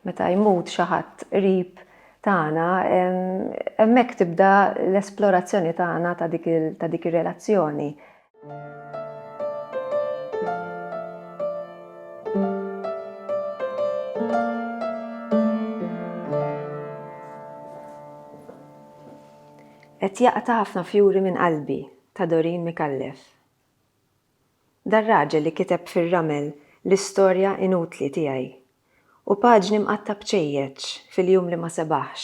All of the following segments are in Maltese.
Meta jmut xi ħadd qrib tagħna, hemmhekk tibda l-esplorazzjoni tagħna ta' dik ir-relazzjoni. Qed jaqta' ħafna fjuri minn qalbi ta' Doreen Micallef. Dar-raġel li kiteb fir-ramel l-istorja inutli tiegħi u paġni mqatta' b'ċejjeċ fil-jum li ma sebaħx.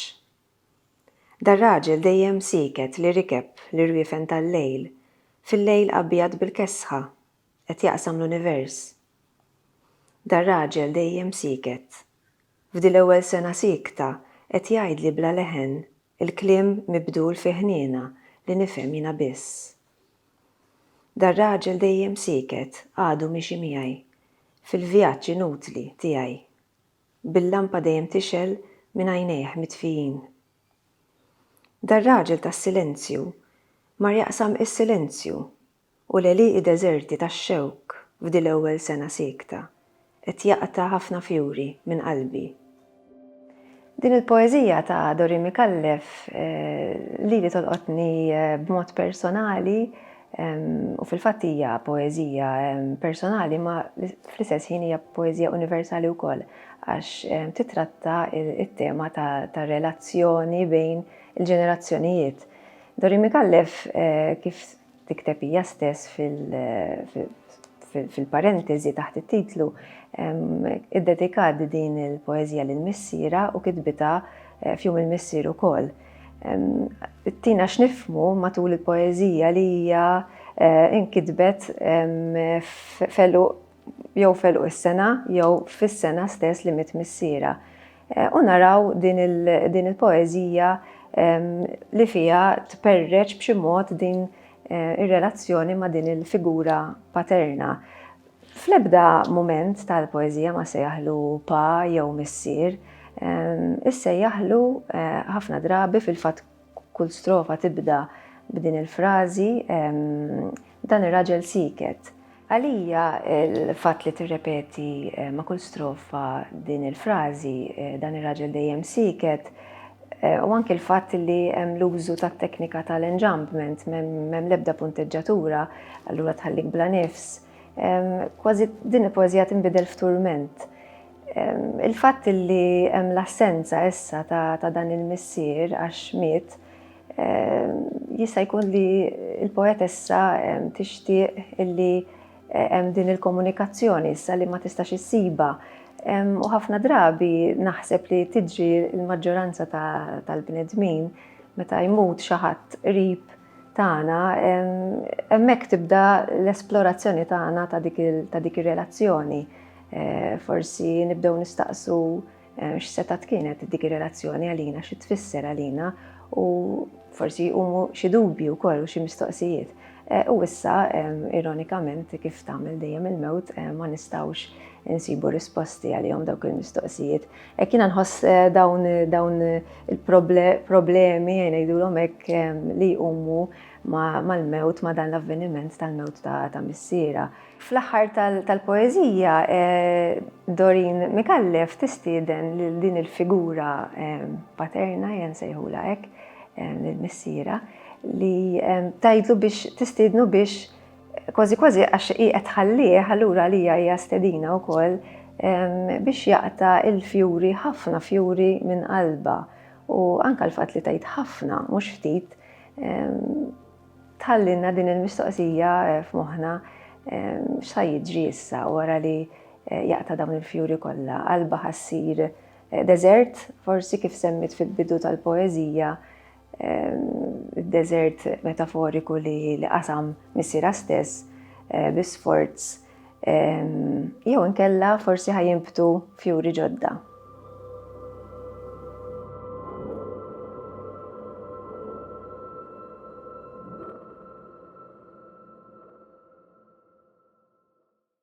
Dar-raġel dejjem sieket li rikeb l-irwiefen tal-lejl fil-lejl abjad bil-kesħa qed jaqsam l-univers. Dar-raġel dejjem sieket. F'di l-ewwel sena siekta qed jgħidli bla leħen il-kliem mibdul fi ħniena li nifhem jiena biss. Dar-raġel dejjem sieket għadu miexi miegħi fil-vjaġġ inutli tiegħi, bil-lampa dejjem tixgħel minn għajnejh mitfijin. Dar-raġel tas-silenzju mar jaqsam is-silenzju u l-għelieqi deżerti tax-xewk f'dil-ewwel sena siekta Qed jaqta' ħafna fjuri minn qalbi. Din il-poeżija ta' Dori Micallef lili tolqotni b'mod personali u fil-fatt hija poeżija personali imma fl-istess ħin hija poeżija universali wkoll għax titratta t-tema tar-relazzjoni bejn il-ġenerazzjonijiet. Dori Micallef kif tikteb hija stess fil-parentesi taħt it-titlu iddedikat din il-poeżija lil missiera u kitbitha eh, f'jum il-missier ukoll. Tina x'nifmu matul il-poeżija li hija eh, inkitbet felu jew f'għeluq is-sena jew fis-sena stess li miet missierha. U naraw din il-poeżija li fiha tperreċ b'xi mod din ir-relazzjoni ma' din il-figura paterna. Fl-ebda mument tal-poeżija ma sejjaħlu pa jew missier, issejjaħlu ħafna drabi fil-fatt Kull strofa tibda b'din il-frażi, Dan ir-raġel sieket. Għalija l-fatt li tirrepeti ma' kull strofa din il-frażi, Dan ir-raġel dejjem sieket, u anki l-fatt li hemm l-użu tat-teknika tal-enjambment, m'hemm l-ebda punteġġatura, allura tħallik bla nifs, kważi din il-poeżija tinbidel f'turment. Il-fatt li hemm l-assenza issa ta' dan il-missier għax miet jista' jkun li l-poetessa tixtieq illi hemm din il-komunikazzjoni issa li ma tistax issibha. U ħafna drabi naħseb li tiġri l-maġġoranza tal-bnedmin meta jmut xi ħadd qrib tagħna, hemmhekk tibda l-esplorazzjoni tagħna ta' dik ir-relazzjoni. Forsi nibdew nistaqsu x'setat kienet dik ir-relazzjoni għalina, xi tfisser għalina u forsi jqumu xi dubji wkoll u xi mistoqsijiet. U issa, ironikament, kif tagħmel dejjem il-mewt, ma nistgħux insibu risposti għalihom dawk il-mistoqsijiet. Hekk jiena nħoss dawn dawn il-problemi ngħidulhom hekk li jqumu mal-mewt ma' dan l-avveniment tal-mewt ta' missiera. Fl-aħħar tal-poeżija Dorin Micallef tistieden lil din il-figura paterna jien nsejħulha hekk, lil missiera, li tgħidlu biex tistiednu biex Kważi kważi għax hi qed tħallih, allura għalija hija stedina wkoll biex jaqta' il-fjuri ħafna fjuri minn qalbha u anke l-fatt li tgħid ħafna mhux ftit tħallilna din il-mistoqsija f'moħħna x'sa jiġri issa wara li eh, jaqta' dawn il-fjuri kollha qalba ħassir eh, deżert, forsi kif semmit fil-bidu tal-poeżija id-deżert metaforiku li qasam missiera stess eh, bi sforz jew inkella forsi ħajinbtu fjuri ġodda.